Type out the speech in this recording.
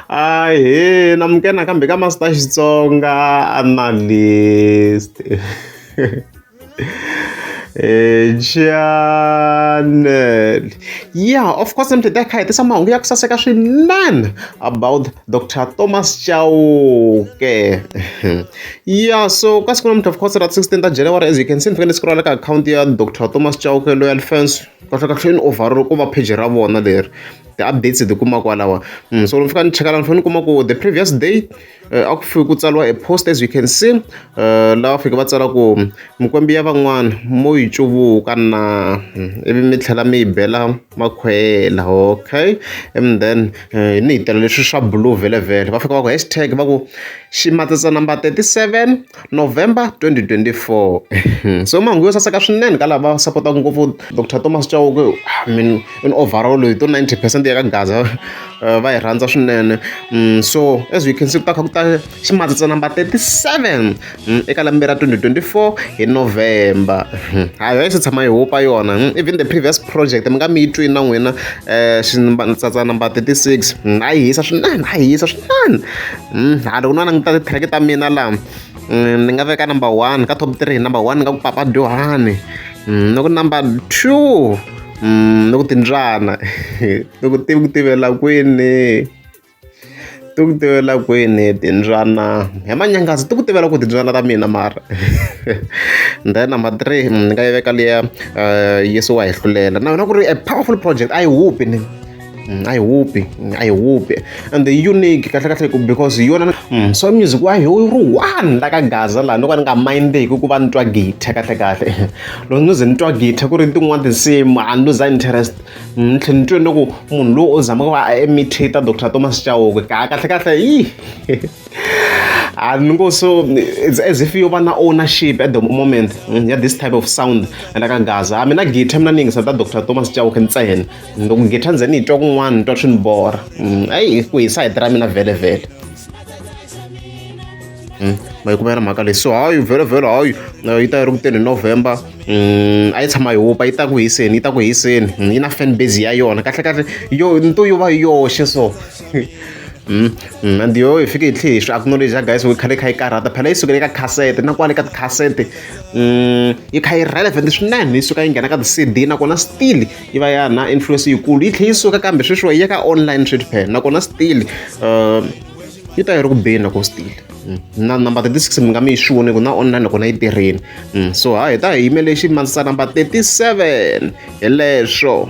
Ahee na muke nakambe ka masta Xitsonga analyst channel yeah of course mtete a kha hi tisa mahungu ya ku saseka swinene about dr thomas chauke yeah so ka siku namuntlha of course ra 16 ta january as you can see ni fanele scrolla ka akhawunti ya dr thomas chauke loyal fans kahlekahle ni overall ku va pheji ra vona leri ti-updates hi ti kuma kwalaho. So ni fika ni cheka laha ni fanele ni kuma ku the previous day a ku fike ku tsariwa a post as you can see lava fike va tsala ku mikwembu ya van'wana mo yi cuvuka na ivi mi tlhela mi yi bela makhwela okay and then ni hi tela leswi swa blue vhele vhele va fika va ku hashtag va ku ximatsatsanambala thirty seven. November 2024 so mahungu yo saseka swinene ka lava sapotaka ngopfu Doctor Thomas Chauke I mean in overall hi to 90 percent ya ka Gaza eh, va yi rhandza swinene mm, so as you can see ku ta kha ku ta ximatsatsa number 37 mm, eka lembe ra 2024 hi November hmm, hayo yi se tshama yi hupa yona hmm, even the previous project mi nga mi yi twi na n'wina eh, ximatsatsa number 36 hmm, a yi hisa swinene a yi hisa swinene Hmm, a ni ku na ni ta ti-track ta mina laha hmm, ni nga veka number one ka top three number one ni nga ku papa dyohani hmm, ni ku number two ni ku timbyana ni ku tivi ku tivela kwini ti ku tivela kwini timbyana hi manyangazi ti ku tivela ku timbyana ta mina mara then number three ni nga yi veka liya eh, yesu wa hi hlulela na yona ku ri a powerful project a yi hupi ni Mm, a yi hupi mm, a yi hupi and unique kahle kahle ku because yona mm, so music wa hi ri one la ka gaza laha no ka ni nga mindeki ku va ni twa githa kahle kahle loko ni ze ni twa githa ku ri tin'wana tinsimu a ni luza interest ni tlhe ni twe ni ku munhu loyi o zama ku va a imitate dr thomas chauke ka kahle kahle yi and ngo so it's as if you na ownership at the moment mm, ya this type of sound la ka gaza mina githa mina ni yingisa ta dr thomas chauke ntsena loko ngitha ndzeni yi twa kun'wana ni twa swi ni borha mm, ayi ku hisa hi tira mina vhelevhele mm, ma yi kuma yena mhaka leyi so hayi vhelevhele hayi yi ta yi ri kuteni hi november mm, a yi tshama yi hupa yi ta ku hiseni yi ta ku hiseni yi na fan base ya yona kahle kahle yo nto yo va yoxe so and yo hi fike hi tlhe hi swi acknowledge ya guys khale kha yi karhata phela yi sukele eka cassette na kwale ka ticassette yi kha yi relevant swinene yi suka yi nghena ka ti-cd nakona still yi va ya na influence yikulu yi tlhela yi suka kambe sweswiwa yi ya ka online trade pair nakona still uh, yi ta yi ri ku beni loko still mm. na number 36 mi nga mi yi swi voni ku na online nakona yi tirheni mm. so ha hi ta hi yimele ximandzisa number 37 hi leswo